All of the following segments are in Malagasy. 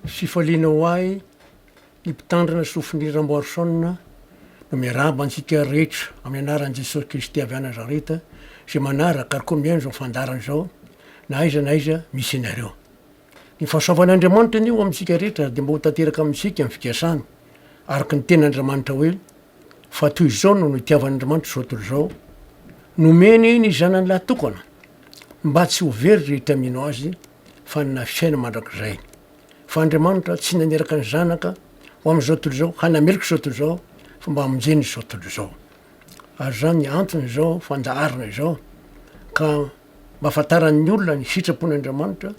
Fifaliana ho ahy ny mpitandrina Sofinir Ramboarison no miarahaba antsika rehetra amin'ny anaran'i Jesosy Kristy avy any Nazareta izay manaraka ary koa mihaino izao fandaharana izao na aiza na aiza misy ianareo. Ny fahasoavan'Andriamanitra anie ho amintsika rehetra dia mba ho tanteraka amintsika amin'ny fikasany araka ny tenan'Andriamanitra hoe fa toy izao no nitiavan'Andriamanitra izao tontolo izao nomeny ny zanany lahy tokana mba tsy ho very rehetra mino azy fa hanana fiainana mandrakizay. Fa Andriamanitra tsy naniraka ny Zanaka ho amin'izao tontolo izao, hanameloka izao tontolo izao, fa mba hamonjena izao tontolo izao. Ary izany ny anton'izao fandaharana izao, ka mba hahafantaran'ny olona ny sitrapon'Andriamanitra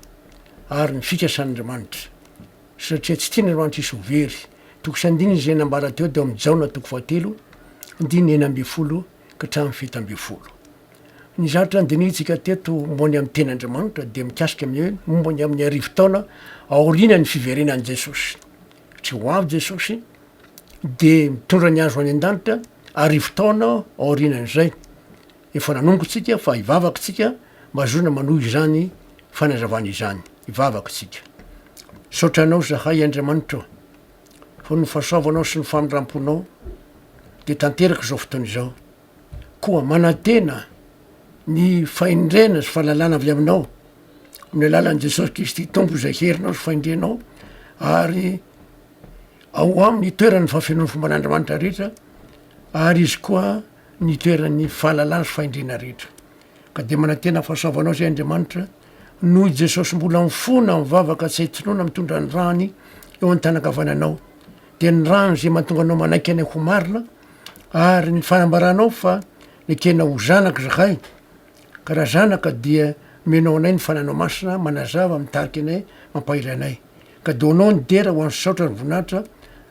ary ny fikasan'Andriamanitra. Satria tsy tian'Andriamanitra hisy ho very. Toko sy andininy izay nambara teo teo amin'ny Jaona toko fahatelo, andininy enina ambin'ny folo hatramin'ny fito ambin'ny folo. Ny zavatra nodinihintsika teto momba ny amin'ny teny Andriamanitra dia mikasika ny hoe momba ny amin'ny arivo taona aorianan'ny fiverenan'i Jesosy. Satria ho avy Jesosy dia mitondra ny azo any an-danitra arivo taona aorianan'izay. Efa nanomboka isika fa hivavaka isika mba hahazoana manohy izany fanazavana izany. Hivavaka isika. Misaotra anao zahay Andriamanitra o. Ho ny fahasoavanao sy ny famindramponao dia tanteraka izao fotoana izao. Koa manantena ny fahendrena sy fahalalana avy aminao amin'ny alalan'i Jesosy Kristy Tompo izay herinao sy fahendrenao ary ao aminy itoeran'ny fahafenoan'ny fomban'Andriamanitra rehetra ary izy koa ny itoeran'ny fahalalana sy fahendrena rehetra. Ka dia manantena fahasoavanao izay Andriamanitra Noho i Jesosy mbola mifona mivavaka tsy hitsinona mitondra ny rany eo an-tanankavananao dia ny rano izay mahatonga anao manaiky anay ho marina ary ny fanambaranao fa ny tena ho zanaka izahay ka raha zanaka dia omenao anay ny fananao masina manazava mitariky anay mampahery anay ka donao ny dera ho an'ny saotra ny voninahitra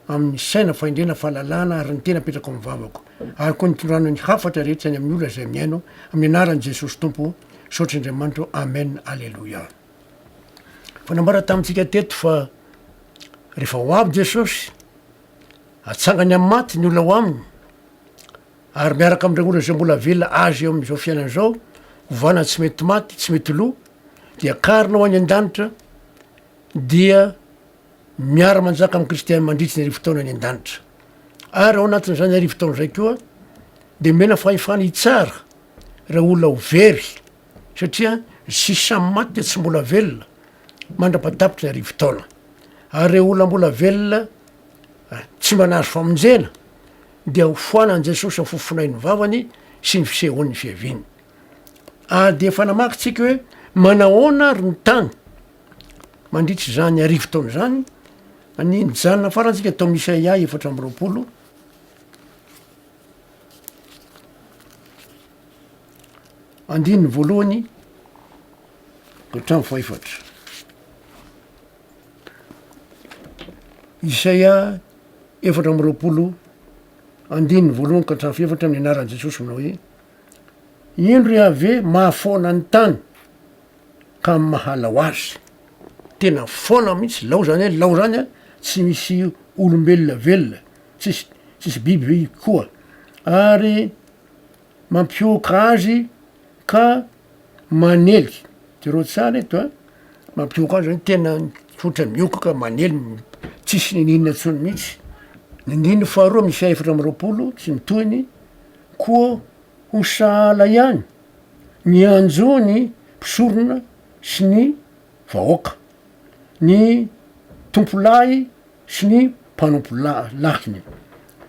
amin'ny saina fahendrena fahalalana ary ny tena apetrako amin'ny vavako ary koa nitondranao ny hafatra rehetra ny amin'ny olona izay mihaino amin'ny anaran'i Jesosy Tompo Misaotra Andriamanitra ô Amen Aleloia. Fa nambarany tamintsika teto fa rehefa ho avy Jesosy, atsangany amin'ny maty ny olona ao aminy, ary miaraka amin'ireo olona izay mbola velona Azy eo amin'izao fiainana izao, hovana tsy mety maty, tsy mety lo, dia karina ho any an-danitra, dia miara-manjaka amin'i Kristy mandritry ny arivo taona any an-danitra. Ary ao anatin'izany arivo taona izay koa, dia mena fahefana hitsara, Ireo olona ho very satria ny sisa maty dia tsy mbola velona mandra-patapitry ny arivo taona. Ary ireo olona mbola velona tsy mba nahazo famonjena dia ho foanan'i Jesosy amin'ny fofonain'ny vavany sy ny fisehoan'ny fiaviany. Ary dia efa namaky tsika hoe manahoana ary ny tany mandritra izany arivo taona izany, ny nijanona farantsika tao Isaia efatra amby roapolo, Andininy voalohany hatramin'ny fahefatra. Isaia efatra amby roapolo andininy voalohany ka hatramin'ny fahefatra amin'ny anaran'i Jesosy manao hoe Indro Iaveh mahafaona ny tany ka amin'ny mahalao azy. Tena faona mihitsy, lao zany hoe lao zany a, tsy misy olombelona velona. tsisy tsisy biby ve koa ary mampihoaka azy ka manely, jereo tsara eto a, mampihoaka azy zany tena otrany mihoaka ka manely tsisy niniana intsony mihitsy, ny andininy faharoa misy efatra amby roapolo sy ny tohiny, koa ho sahala ihany ny anjo ny mpisorona sy ny vahoaka. ny tompolahy sy ny mpanompo-lahiny,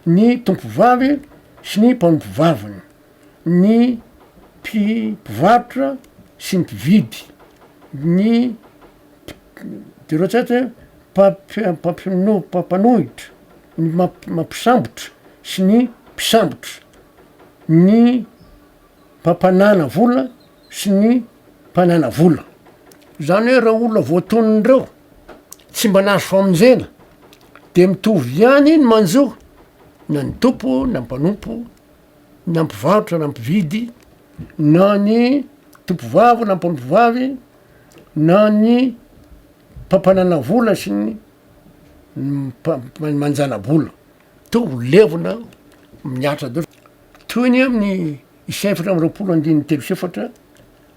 ny tompovavy sy ny mpanompo-vaviny, ny mpivarotra sy ny mpividy, ny mpanohitra, ny mampisambotra sy ny mpisambotra, ny mpampanana vola, sy ny mpanana vola. Izany hoe ireo olona voatonona ireo tsy mba nahazo famonjena dia mitovy ihany ny manjo na ny tompo na mpanompo na mpivarotra na mpividy na ny tompovavy na mpanompovavy na ny mpampanana vola sy ny manjana-bola. Mitovy levona miatra daholo. Toy ny amin'ny Isa efatra amby roapolo andininy telo sy efatra,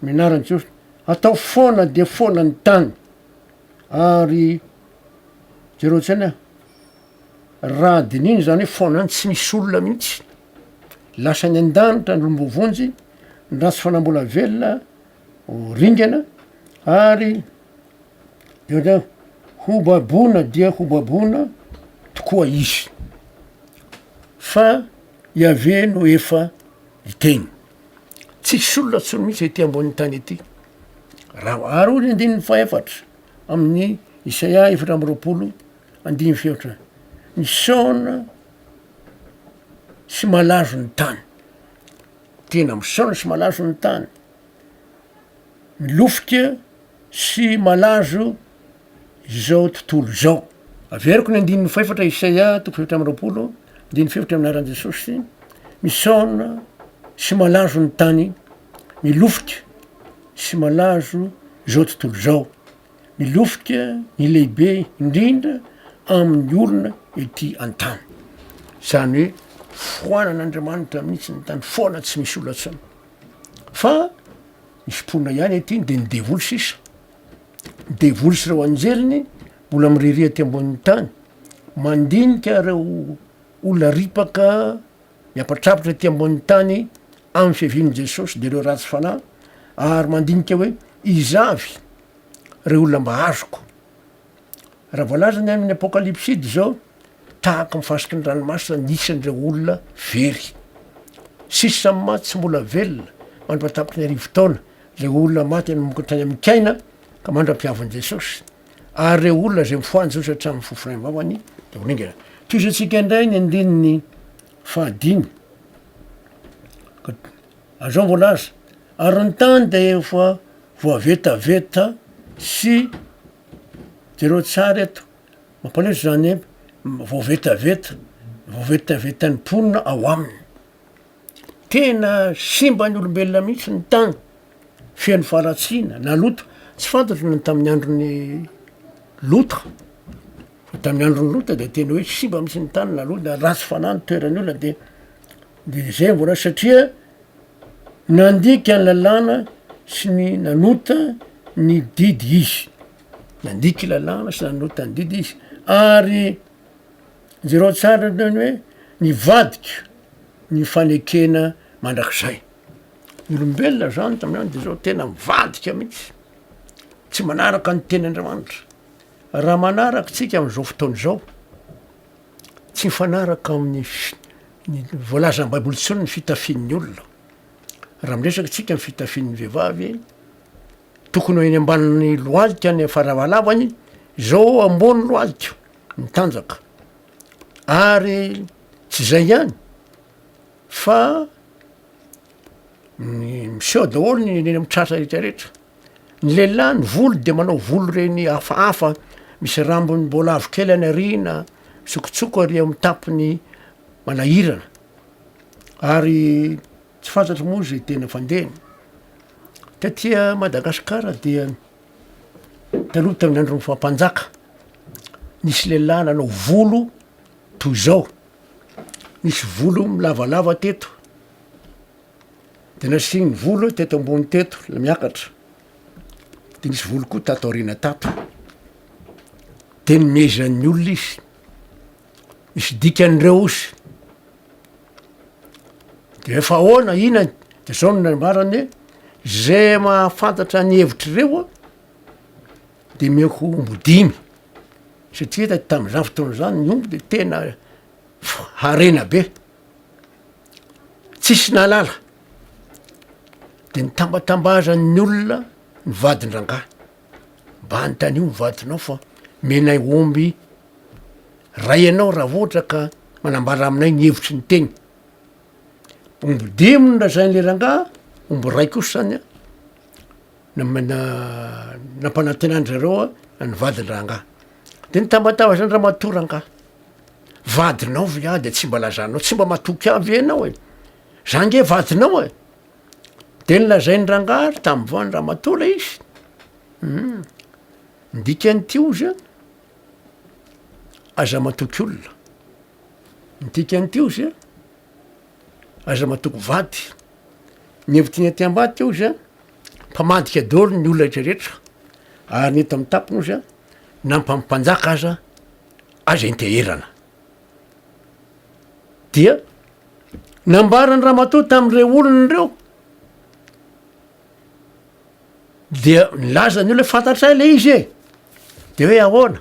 Ny anaran'i Jesosy atao foana dia foana ny tany, ary jereo tsy any aho, raha dinihina izany hoe foana any tsy misy olona mihitsy, lasa any an-danitra ny lombovonjy, ny ratsy fanahy mbola velona ho ringana, ary jereo ho baboina dia ho baboina tokoa izy. Fa Yaveh no efa niteny. Tsisy olona tsony mihitsy ety ambonin'ny tany ety. Raha oaro ny andininy fahefatra amin'ny Isaia efatra amby roapolo andininy fefatra, misaona sy malazo ny tany. Tena misaona sy malazo ny tany. milofika sy malazo izao tontolo izao. Averiko ny andininy fahefatra Isaia toko fahefatra amby roapolo andininy fahefatra amin'ny anaran'i Jesosy, misaona sy malazo ny tany, milofika sy malazo izao tontolo izao, milofika ny lehibe indrindra amin'ny olona ety an-tany. Izany hoe foanan'Andriamanitra mihitsy ny tany, foana tsy misy olona intsony. Fa ny fitroana ihany ankehitriny dia ny devoly sisa. Ny devoly sy ireo anjeliny mbola miriria aty ambonin'ny tany, mandinika ireo olona ripaka miampatrapatra aty ambonin'ny tany amin'ny fiavian'i Jesosy dia ireo ratsy fanahy ary mandinika hoe iza avy ireo olona mba azoko Raha voalaza ny any amin'ny Apokalypsy dia izao, Tahaka ny fasiky ny ranomasina ny isan'ireo olona very. Sisa samy maty sy mbola velona mandra-pahatapiky ny arivo taona, ilay olona maty hanomboka tany amin'ny kaina ka mandra-pihavin'i Jesosy, ary ireo olona izay mifohahy an'i Jesosy hatramin'ny fofonain'ny vavany dia ho ringana. Tohizo antsika indray ny andininy fahadimy. Ary izao no voalaza, Ary ny tany dia efa voavetaveta sy Jereo tsara eto, mampalahelo izany hoe voavetaveta, voavetavetan'ny mponina ao aminy. Tena simba ny olombelona mihitsy ny tany, feno faharatsiana na loto, tsy fantatro ny tamin'ny andron'ny loto, tamin'ny andron'ny loto dia tena hoe simba mihitsy ny tany na loto na ratsy fanahy ny toeran'ny olona dia dia zay mbola satria Nandika ny lalàna sy ny nanota ny didy izy. Nandika lalàna sy nanota ny didy izy. Ary jereo tsara ny hoe nivadika ny fanekena mandrakizay. Ny olombelona zany tamin'izany dia zao tena mivadika mihitsy, tsy manaraka ny tenin'Andriamanitra. Raha manaraka tsika amin'izao fotoana izao, Tsy mifanaraka amin'ny ny voalazan'ny Baiboly intsony ny fitafian'ny olona. Raha miresaka antsika ny fitafian'ny vehivavy, tokony ho eny ambanin'ny lohalika ny fahalavalabany, izao ambony lohalika, mitanjaka. Ary tsy izay ihany fa miseho daholo ny eny amin'ny tratra rehetra rehetra. Ny lehilahy ny volo dia manao volo ireny hafahafa misy rambony mbola avo kely any aoriana, mitsokotsoka ary amin'ny tapiny manahirana ary tsy fantatro moa zay tena fandehany. Taty Madagasikara dia taloha tamin'ny andron'ny faha mpanjaka nisy lehilahy nanao volo toy zao, nisy volo milavalava teto. Dia nasiany ny volo teto ambony teto ilay miakatra, dia nisy volo koa tato aoriana tato. Dia nomezan'ny olona izy. Misy dikan'ireo izy. Dia efa ahoana ina dia zao no nambarany hoe izay mahafantatra ny hevitr'ireo dia omeko omby dimy satria tamin'izany fotoana izany ny omby dia tena harena be. Tsisy nahalala, de nitambatambazan'ny olona ny vadin-drangahy, mba anontanio ny vadinao fa omenay omby ray ianao raha ohatra ka manambara aminay ny hevitry ny teny, omby dimy no lazain'le rangahy, omby ray kosa zany an, namana- nampanantenan-dry zareo ny vadin-drangahy, de nitambatambazan'ny ramatoa rangahy. Vadinao ve ah de tsy mba lazanao, tsy mba matoky ahy ve ianao e? Za nge vadinao e! De nolazain'ny rangahy ary tamin'ny voan'ny ramatoa ilay izy. Hum. Ny dikan'ity ozy a, aza matoky olona. Ny dikan'ity ozy a, aza matoky vady. Ny hevitiny aty ambadika ozy a, mpamadika daholo ny olona rehetra rehetra. Ary ny eto amin'ny tapiny ozy a, na ny mpampanjaka aza, Azo enteherana. Dia nambaran'i ramatoa tamin'ireo olona ireo dia nilaza ny olona fantatray ilay izy e de hoe ahoana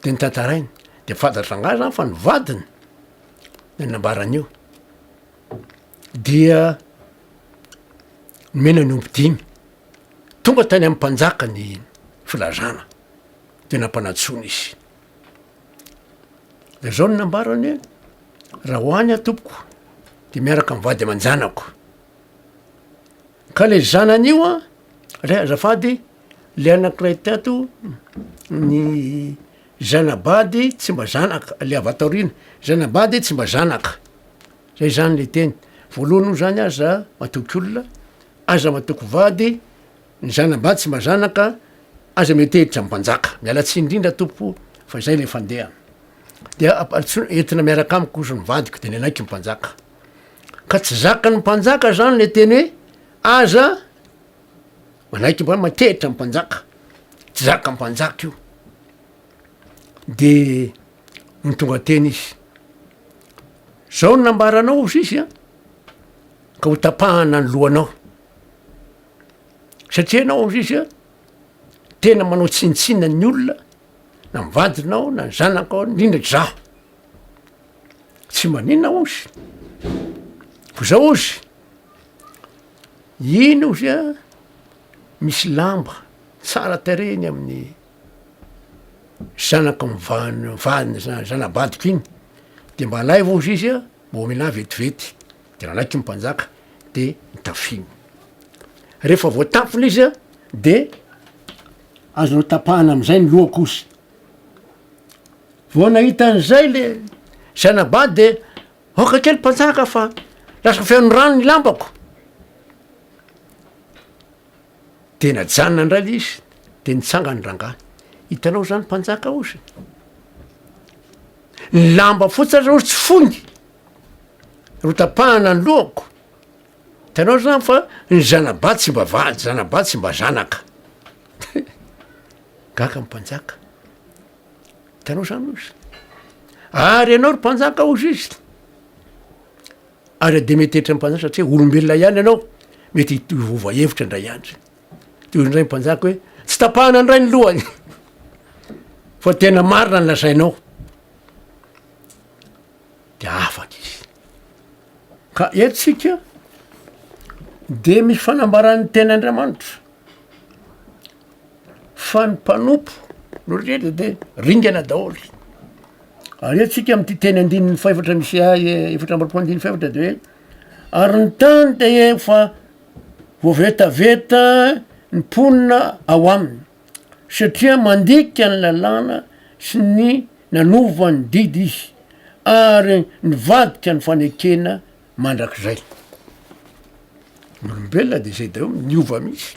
de nitantarainy de fantatra angaha zany fa ny vadiny ny nambaran'io dia nomena ny omby dimy tonga tany amin'ny mpanjaka ny filazana Tena mpanatsoina izy. Dia izao no nambarany hoe, raha ho any aho tompoko dia miaraka amin'ny vady aman-janako. Ka ilay zanany io an, ilay azafady, ilay anankiray tato ny zanabady tsy mba zanaka, ilay avy ato aoriana, zanabady tsy mba zanaka. Zay izany ilay teny. Voalohany moa izany aza matoky olona, aza matoky vady, Ny zanabady tsy mba zanaka aza mety hiditra amim-panjaka. Miala tsiny indrindra Tompo fa izay ilay fandehana. Dia amparitr'olona entina miaraka amiko ozy ny vadiko dia nenaiky ny mpanjaka. Ka tsy zakan'ny mpanjaka izany ilay teny hoe aza manaiky mba makehitra ny mpanjaka. Tsy zakan'ny mpanjaka io. Dia no tonga teny izy. Zao no nambaranao ozy izy an, ka ho tapahana ny lohanao. satria ianao indray zay tena manao tsinotsinona ny olona na ny vadinao na ny zanakao indrindra izaho tsy manina ozy ko zao ozy iny ozy a misy lamba tsara tarehiny amin'ny zanaka mivahana vadiny zana-badiko iny de mba alaivo ozy izy a mba omena ahy vetivety de nanaiky ny mpanjaka de notafiny, rehefa voatafy le izy a de azo notapahana amizay ny lohako ozy, vao nahita anizay le zanabaha de aoka kely mpanjaka fa lasa feno rano ny lambako, de najanona indray le izy de nitsangany rangahy, hitanao zany mpanjaka ozy, ny lamba fotsiny aza ozy tsy foiny. Notapahana ny lohako. Hitanao zany fa ny zana-bady tsy mba vady, zana-bady tsy mba zanaka. Gaga ny mpanjaka. Hitanao zany hoy izy. Ary ianao ry mpanjaka hoy izy. Ary Demetretra ny mpanjaka satria olombelona ihany ianao, mety hiova hevitra indray andro. Dia hoy indray ny mpanjaka hoe tsy tapahana indray ny lohany fa tena marina ny lazainao. dia afaka izy. Ka eto isika dia misy fanambaran'ny teny Andriamanitra fa ny mpanompo no rehetra dia ringana daholo. Ary eto isika amin'ity teny andininy fahefatra misy ahy eh, efatra amby roapolo andininy fahefatra dia hoe ary ny tany dia efa voavetaveta ny mponina ao aminy. satria mandika ny lalàna sy ny nanova ny didy izy ary nivadika ny fanekena mandrakizay. Ny olombelona dia izay daholo, miova mihitsy.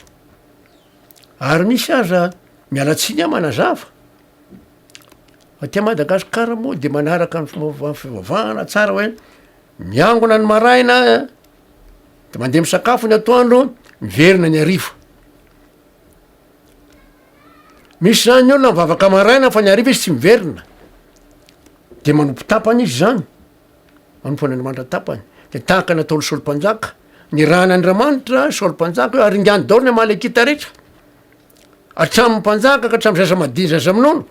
Ary misy aza, miala tsiny aho manazava, aty Madagasikara moa dia manaraka ny fomba fivavahana tsara hoe miangona ny maraina dia mandeha misakafo ny atoandro, miverina ny hariva. Misy zany ny olona mivavaka maraina fa ny hariva izy tsy miverina de manompo tapany izy zany manompo an'Andriamanitra tapany de tahaka ny ataon'ny Saoly mpanjaka nirahana Andriamanitra Saoly mpanjaka hoe aringano daholo ny Amalekita rehetra hatramin'ny mpanjaka ka hatramin'ny zaza madinika zaza minono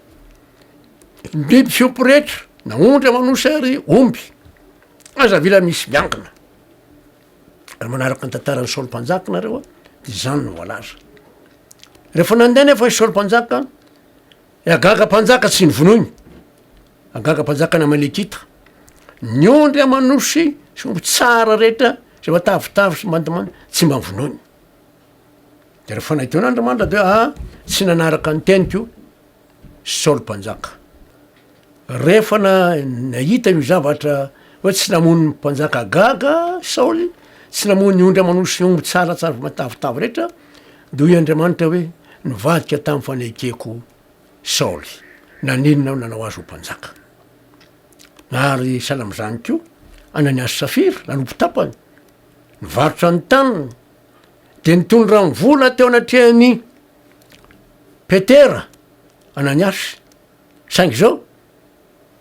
ny biby fiompy rehetra na ondry aman'osy ary omby aza avila misy miangona Raha manaraka ny tantaran'i Saoly Mpanjaka ianareo a, dia izany no voalaza. Rehefa nandeha nefa i Saoly Mpanjaka, i Agaga Mpanjaka tsy novonoiny, Agaga Mpanjaka n'Amalekita, ny ondry aman'osy sy omby tsara rehetra izay matavitavy sy mandomando tsy mba vonoiny. Dia rehefa nahita eo n'Andriamanitra dia ah, tsy nanaraka ny teniko, Saoly mpanjaka. Rehefa nahita io zavatra hoe tsy namono ny mpanjaka Agaga Saoly, tsy namono ny ondry aman'osy sy ny omby tsaratsara avy matavitavy rehetra, dia hoy Andriamanitra hoe, Nivadika tamin'ny fanekeko Saoly, naninona aho nanao azy ho mpanjaka. Ary sahala amin'izany koa, Ananiasy Safira, nanompo tapany, nivarotra ny taniny, dia nitondra ny vola teo anatrehan'ny Petera, Ananiasy, saingy izao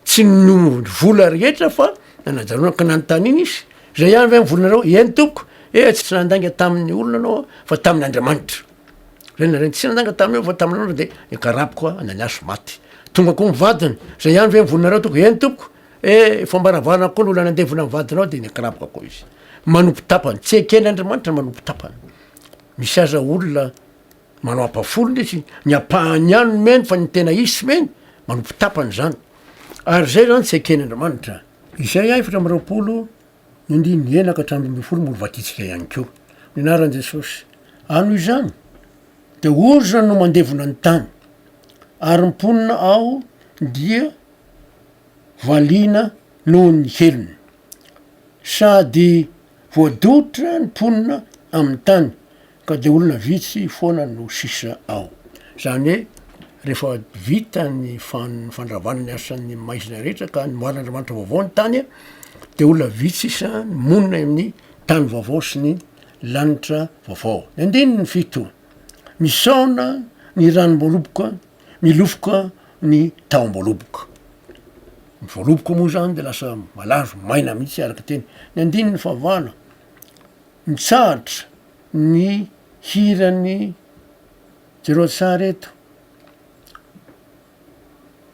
tsy ninono vola rehetra fa nanajanona ka nanontaniana izy, izay ihany ve ny volanareo? Eny tompoko, ee tsy nandainga tamin'ny olona anao fa tamin'Andriamanitra, zay ny lazainy, tsy nandainga taminao fa tamin'Andriamanitra dia nikarapy koa Ananiasy maty, tonga koa ny vadiny, zay ihany ve ny volanareo tompoko? Eny tompoko, ee efa ambaravarana koa ny olona nandevona ny vadinao dia nikarapoka koa izy, manompo tapany, tsy eken'Andriamanitra ny manompo tapany. Misy aza olona manao ampafolony le izy, ny ampahany ihany no mihaino fa ny tena izy tsy mihaino, manompo tapany izany. Ary izay izany tsy eken' Andriamanitra. Izay a efatra amby roapolo ny andininy enina ka hatramin'ny roa ambin'ny folo mbola vakintsika ihany koa ny anaran'i Jesosy. Ary noho izany dia orona no mandevona ny tany ary ny mponina ao dia valiana noho ny helony. Sady voadotra ny mponina amin'ny tany ka dia olona vitsy foana no sisa ao. Izany hoe rehefa vita ny fandravana ny asan'ny maizina rehetra ka nomarin'Andriamanitra vaovao ny tany dia olona vitsy sisa no monina eo amin'ny tany vaovao sy ny lanitra vaovao. Ny andininy fito, Misaona ny ranom-boaloboka Milofoka ny tahom-boaloboka. Ny voaloboka moa izany dia lasa malazo, maina mihitsy araka teny. Ny andininy fahavalo, mitsahatra ny hiran'ny jereo an-tsary eto,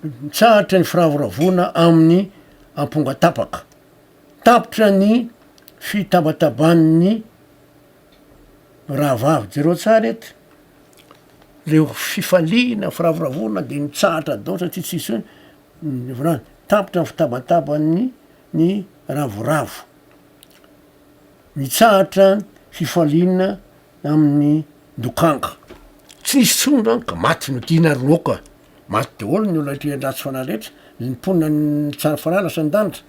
mitsahatra ny firavoravoana amin'ny amponga tapaka, tapitra ny fitabataban'ny Rahavavy, jereo tsara eto, leo fifaliana, firavoravoana de mitsahatra daholo satria tsisy hoe mivola any, tapitra ny fitabatabany ny ravoravo, mitsahatra fifaliana amin'ny dokanga, tsy nisy intsony zany ka maty no tiana ry reoko a, maty daholo ny olona aty an-dratsy fanahy rehetra, ny mponina any Tsarafarala sy an-danitra,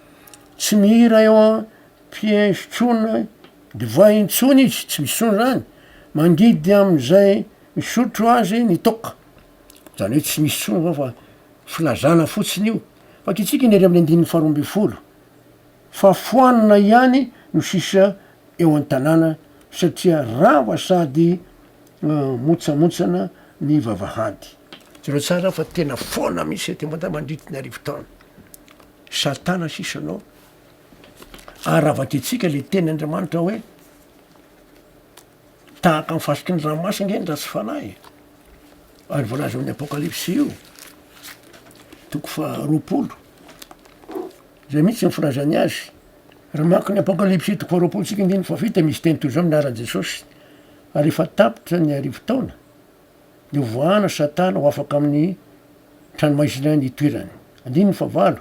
tsy mihira eo an. Piège tsony divay intsony izy tsy misy tsony zany mangidy amizay misotro azy ny toaka zany hoe tsy misy tsony zao fa filazana fotsiny io fa kitsika ny ery amin'ny andininy faha roa ambin'ny folo fa foanina ihany no sisa eo an-tanàna satria rava sady motsamotsana ny vavahady. Jereo tsara fa tena foana mihitsy aty Mada mandritry ny arivo taona. Satana sisa no Ary avadintsika le teny Andriamanitra hoe tahaka ny fasiky ny ranomasina nge ny ratsy fanahy e. Ary voalaza ao amin'ny Apokalypsy io, toko faharoapolo, zay mihitsy ny filazany azy. Raha maka ny Apokalypsy toko faharoapolo tsika andininy fahafito dia misy teny toy izao milaharan'i Jesosy, ary efa tapitra ny arivo taona, Dia hovoahana Satana ho afaka amin'ny tranomaizina ny itoerany. Andininy fahavalo,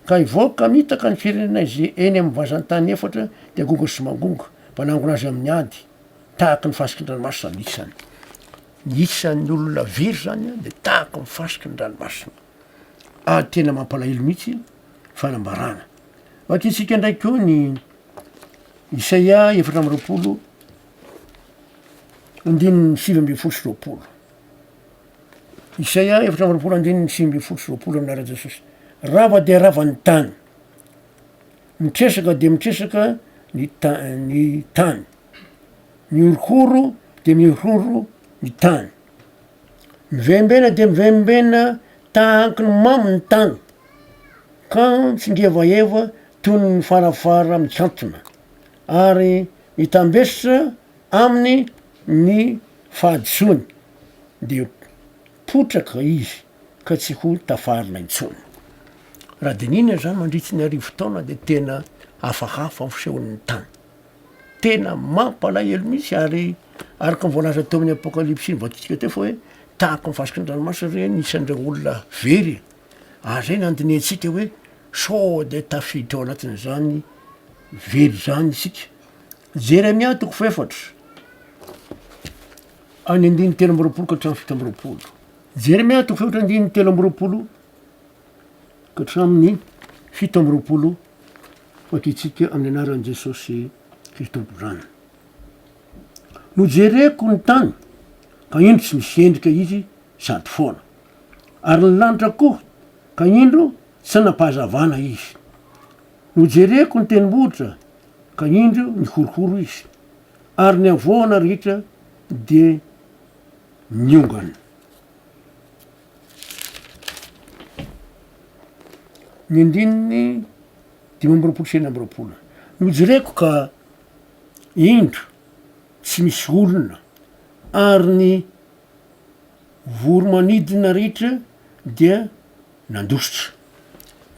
Ka hivoaka mitaka ny firenena izay eny amin'ny vazan-tany efatra dia gonga sy mangonga, mpanangona azy amin'ny ady, tahaka ny fasiky ny ranomasina ny isany. Ny isan'ny olona very izany dia tahaka ny fasiky ny ranomasina. Ady tena mampalahelo mihitsy fanambarana. Vakintsika indray koa ny Isaia efatra amby roapolo andininy sivy ambin'ny folo sy roapolo. Isaia efatra amby roapolo andininy sivy ambin'ny folo sy roapolo amin'ara Jesosy. Rava dia rava ny tany. Mitresaka dia mitresaka ny ta- ny tany. Mihorokoro dia mihorokoro ny tany. Mivembena dia mivembena tahaky ny mamo ny tany. Ka mitsingevaheva toy ny farafara mikantona. ary hitambesitra aminy ny fahadisoany, dia potraka izy ka tsy ho tafarina intsony. Raha dinihina izany mandritry ny arivo taona dia tena hafahafa fisehon'ny tany. Tena mampalahelo mihitsy ary araka ny voalaza teo amin'ny apokalypsy nivakiantsika teo fa hoe tahaka ny fasiky ny ranomasina ve ny isan'ireo olona very? Ary izay nandinihantsika hoe sao dia tafiditra ao anatin'izany very izany isika. Jeremia toko fahefatra, any andininy telo amby roapolo ka hatramin'ny fito amby roapolo. Jeremia toko fahefatra andininy telo amby roapolo ka hatramin'ny fito amby roapolo vakitsika amin'ny anaran'i Jesosy Kristy Tompondrana. Nojereko ny tany ka indro tsy misy endrika izy sady foana. Ary ny lanitra koa, ka indro tsy nampahazavana izy. Nojereko ny tendrombohitra, ka indro nihorohoro izy, ary ny havoana rehetra dia niongana. Ny andininy dimy amby roapolo sy enina amby roapolo. Nojereko ka indro tsy misy olona, ary ny. voro-manidina rehetra dia nandositra.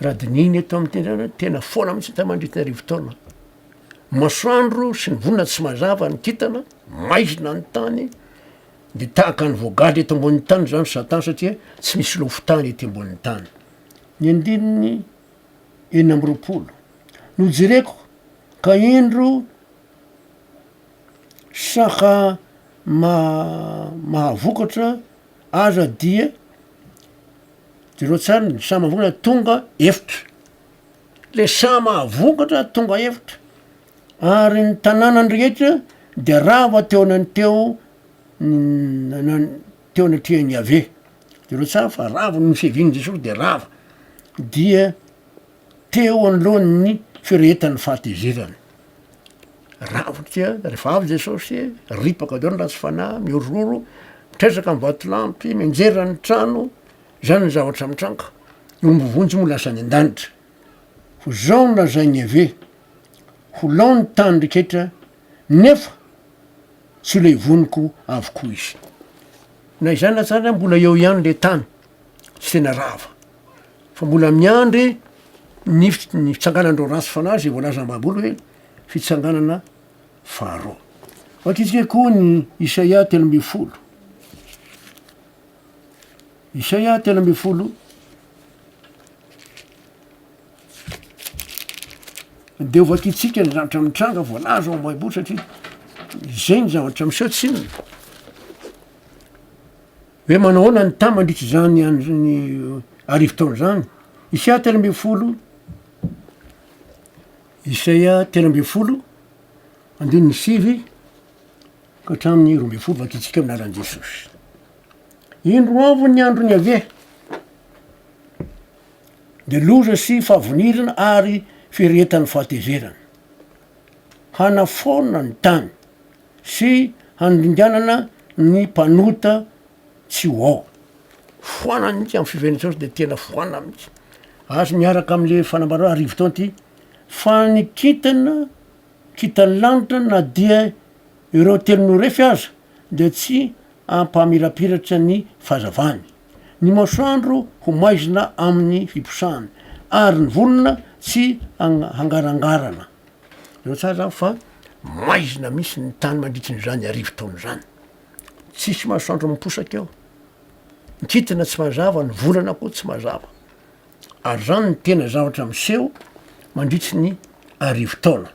Raha dinihina eto amin'ny tendanay, tena foana mihitsy tamin'ny mandritry ny arivo taona. Masoandro sy ny volana tsy mazava ny kintana, maizina ny tany, dia tahaka ny voagadra eto ambonin'ny tany izany satan satria tsy misy lofon-tany ety ambonin'ny tany. Ny andininy enina amby roapolo, nojereko ka indro, saka mahavokatra aza dia jereo tsara ny saha mahavokatra tonga efitra, le saha mahavokatra tonga efitra ary ny tanànany rehetra de rava teo anany teo teo anatrehan'i Yaveh, jereo tsara fa rava noho ny fiavian'i Jesosy de rava dia. Teo anoloan'ny firehetan'ny fahatezerany, rafitra, rehefa avy Jesosy, ripaka daholo ny ratsy fanahy, mihorihoro, mitresaka ny vatolampy, mianjera ny trano, izany ny zavatra mitranga, ny omby vonjy moa lasa any an-danitra. Ho izao no lazain'i Yaveh, Ho lao ny tany reketra, nefa tsy ho levoniko avokoa izy. Na izany aza ary mbola eo ihany le tany. tsy tena rava fa mbola miandry ny ny fitsanganan'ireo ratsy fanahy izay voalazan'ny Baiboly hoe fitsanganana faharoa. Vakitsika koa ny Isaia telo ambin'ny folo. Isaia telo ambin'ny folo dia ho vakitsika ny zavatra mitranga voalaza ao Baiboly satria izay ny zavatra miseho tsy inona. Hoe manahoana ny taha mandritra izany andron'ny arivo taona izany? Isaia telo ambin'ny folo, Isaia telo ambin'ny folo, andininy sivy ka hatramin'ny roa ambin'ny folo, vakintsika amin'ny anaran'i Jesosy. Indro avy ny andron'i Yaveh, dia loza sy fahavonirana ary firehetan'ny fahatezerana. Hanafaona ny tany. sy handringanana ny mpanota tsy ho ao. Foana mihitsy amin'ny fiveren'i Jesosy dia tena foana mihitsy. Azo miaraka amin'ilay fanambarana arivo taona ity fa ny kintana, kintan'ny lanitra na dia ireo telo norefy aza dia tsy hampamirapiratra ny fahazavany. Ny masoandro ho maizina amin'ny fiposahany ary ny volana tsy hangarangarana. Fantatrao tsara zany fa maizina mihitsy ny tany mandritrin'izany arivo taona izany. Tsisy masoandro miposaka eo. Ny kintana tsy mazava, ny volana koa tsy mazava. Ary izany no tena zavatra miseho mandritry ny arivo taona.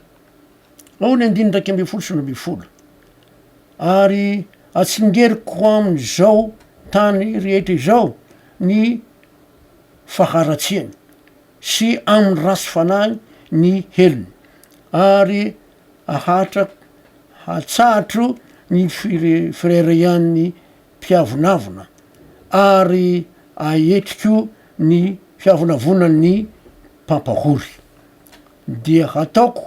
Ao ny andininy iraika ambin'ny folo sy roa ambin'ny folo. Ary atsingeriko amin'izao tany rehetra izao ny faharatsiany. sy amin'ny ratsy fanahiny ny helony, ary ahatra hatsahatra ny fireharehan'ny mpiavonavona, ary ahetriko ny fiavonavonan'ny mpampahory, dia hataoko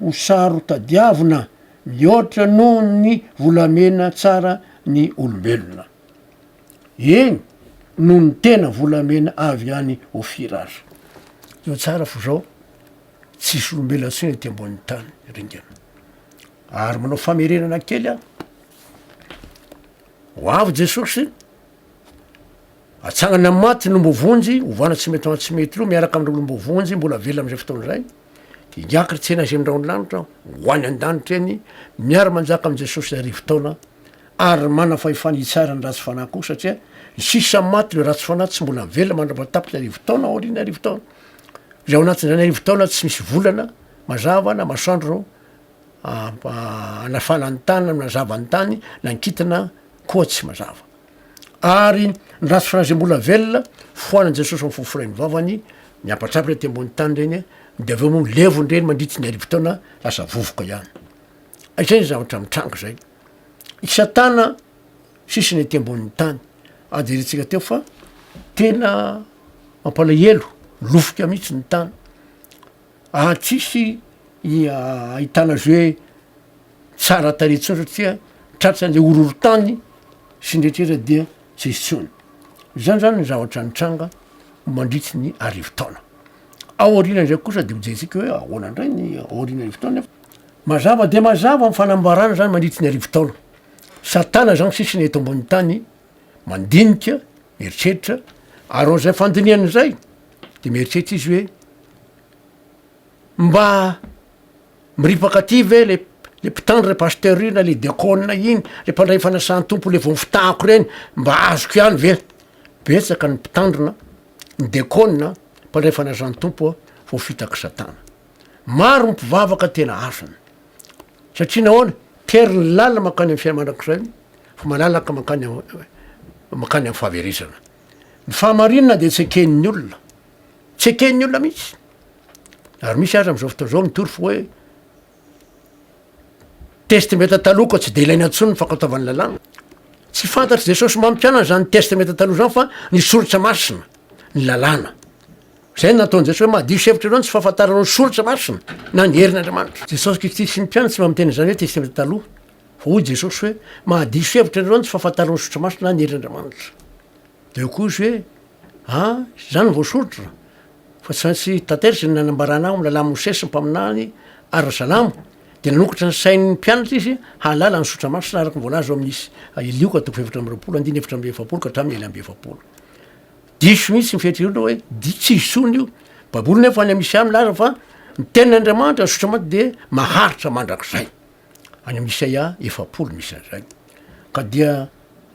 ho saro-tadiavina mihoatra noho ny volamena tsara ny olombelona. Eny, noho ny tena volamena avy any Ofira aza. Teo tsara fa izao tsisy olombelona intsony ety ambonin'ny tany ringana. Ary manao famerenana kely aho. Ho avy Jesosy, atsangany amin'ny maty ny ombovonjy, ovana tsy mety ho antsy mety ireo miaraka amin'ireo olombovonjy mbola velona amin'izay fotoana izay. Higiaka ry tsena izay ny rahon'ny lanitra, ho any an-danitra eny, miara-manjaka amin'i Jesosy arivo taona. ary manana fahefana hitsara ny ratsy fanahy koa satria ny sisa maty le ratsy fanahy tsy mbola velona mandra-patapitry ny arivo taona aorian'ny arivo taona zay ao anatin'izany arivo taona tsy misy volana mazava na masandro anafana ny tany na minazava ny tany na nkitina koa tsy mazava ary ny ratsy fanahy zay mbola velona foanan'i jesosy am fofo rain'ny vavany ny ampatrapitra aty ambony tany reny de avy eo moa levon'ireny mandritry ny arivo taona lasa vovoka ihany izay ny zavatra mitranga zay i satana sisiny aty ambonin'ny tany ah jerentsika teo fa tena mampalahelo lofika mihitsy ny tany ah tsisy ia ahitana azy hoe tsara tarehy intsony satria tratran'le horohorontany sy ny rehetraretra dia tsy misy intsony zany zany ny zavatra nitranga mandritsy ny arivo taona ao aoriana zay kosa de hojerentsika hoe ahoana indray ny ao aoriana arivo taona. Mazava dia mazava ny fanambarana izany mandritry ny arivo taona. Satana izany sisa eto ambonin'ny tany mandinika, mieritreritra, ary noho izay fandinihany izay dia mieritreritra izy hoe mba miripaka aty ve le le mpitandro le pasteur iny na le diakona iny le mpandray fanasan-tompo le vao fitahako ireny mba azoko ihany ve? Betsaka ny mpitandrina, ny diakona, mpandray fanasan-tompo a, voafitak'i Satana. Maro ny mpivavaka tena afina. Satria nahoana? Tery ny lalina mankany amin'ny fiainana mandrakizay fa malalaka mankany mankany amin'ny fahaverezana. Ny fahamarinana dia tsy eken'ny olona. Tsy eken'ny olona mihitsy. Ary misy aza amin'izao fotoana izao mitory fa hoe testamenta taloha ka tsy dia ilaina intsony ny fankatoavan'ny lalàna. Tsy fantatr'i Jesosy mampianana izany testamenta taloha izany fa ny soritra masina, ny lalàna. Izay no nataon'i Jesosy hoe mahadiso hevitra ireo no tsy fahafantarana ny soratra masina na ny herin'Andriamanitra. Jesosy Kristy sy ny mpianany tsy mba miteny an'izany hoe Testamente Taloha, fa hoy Jesosy hoe mahadiso hevitra ireo no tsy fahafantarana ny soratra masina na ny herin'Andriamanitra. Dia hoy koa izy hoe, a, izany no voasoritra, fa tsy maintsy tanteraka izay nanambarana ao amin'ny lalàn'i Mosesy sy ny mpaminany ary ny salamo. Dia nanokatra ny sain'ny mpianatra izy hahalala ny soratra masina araka ny voalaza ao amin'ny Is. Lioka toko fahefatra amby roapolo, andininy efatra amby efapolo ka hatramin'ny ela amby efapolo. Diso mihitsy ny fihetsirehetra hoe di tsy hisolo io Baiboly nefa any Misia milaza fa ny tenin'Andriamanitra azotra maty dia maharitra mandrakizay any amin'ny Isaia efapolo misy an'izay ka dia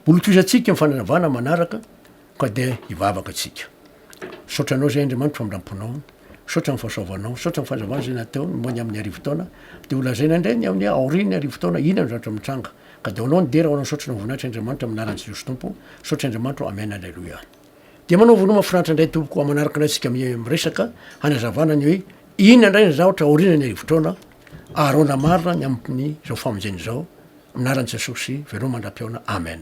holokisantsika ny fananavana manaraka ka dia hivavaka antsika misaotra anao izay Andriamanitra famindram-ponao misaotra ny fahasoavanao misaotra ny fahazavana izay natao momba ny amin'ny arivo taona dia holazaina indray ny amin'ny aorian'ny arivo taona inona no zavatra mitranga Ka daholo ny dera oran saotra no voninahitr Andriamanitra manaran Jesosy Tompo saotra Andriamanitro Amen Aleloia Dia manao vono mafinaritra indray tompoko amanaraka indray tsika miresaka hanazavana ny hoe inona indray ny zahotra aoriana ny arivotraona aharona marina ny amin'ny zao famonjena izao manaran Jesosy veloma mandra-pihaona Amen.